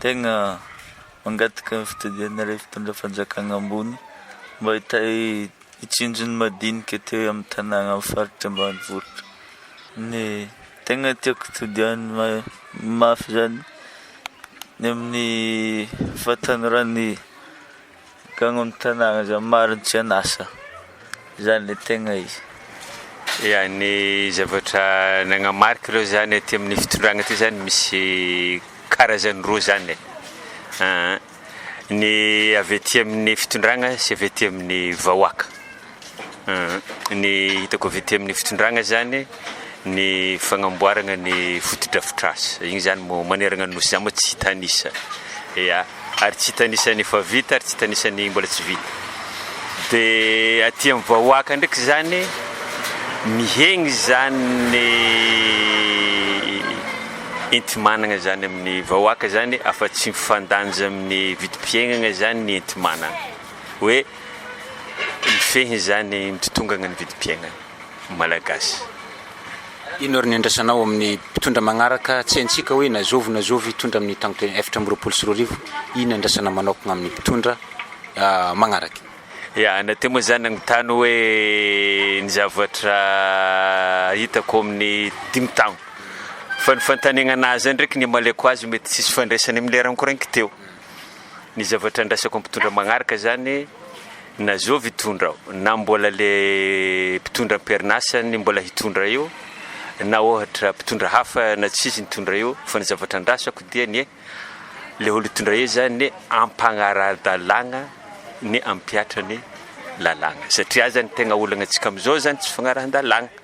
Tegna mangataka ny fitodianareo fitondra fanjakana ambony mba hitahy hitsinjo ny madinika aty amin'ny tanàna amin'ny faritra ambanivohitra. Ny tegna tiako todianina mafy zany ny amin'ny fahatanorany. Gaga ny tanàna zany marigny tsy an'asa zany le tegna izy. Ya, ny zavatra nagnamarika aloha zany aty amin'ny fitondrana aty zany misy karazany roa zany e, aa ny avy aty amin'ny fitondrana sy avy aty amin'ny vahoaka. Ny hitako avy ety amin'ny fitondrana zany ny fagnamboaragna ny fotodrafitrasa, igny zany moa maneragna ny nosy zany moa tsy hitan'isa, ya, ary tsy hitan'isa ny efa vita ary tsy hitan'isa ny mbola tsy vita, de aty amin'ny vahoaka ndraiky zany mihegny zany ny enti-managna zany amin'ny vahoaka zany afa-tsy mifandanja amin'ny vidim-piaignagna zany ny enti-managna, hoe. mifehy izany mitotongana ny vidim-piainana malagasy. Inona ary ny andrasanao amin'ny mpitondra magnaraka tsy haintsika hoe na zovy na zovy hitondra amin'ny taon-telo efatra amby roapolo sy roa arivo, inona andrasana manokana amin'ny mpitondra magnaraka? Ya, na teo moa zany nagnontany hoe ny zavatra hitako amin'ny dimy taona, fa ny fantanegna anazy zany ndreky ny amaliako azy mety tsisy fandraisany amin'ny lera nikorainko teo. Ny zavatra andraisako amin'ny mpitondra magnaraka zany, na zao mpitondra ao, na mbola le mpitondra am-perinasa ny mbola hitondra eo, na ohatra mpitondra hafa na tsisy ny hitondra eo, fa ny zavatra andrasako dia ny le olo hitondra eo zany ny ampagnara-dalàgna ny ampiatra ny lalàgna, satria zany tegna olagna antsika amizao zany tsy fagnarahan-dalàgna.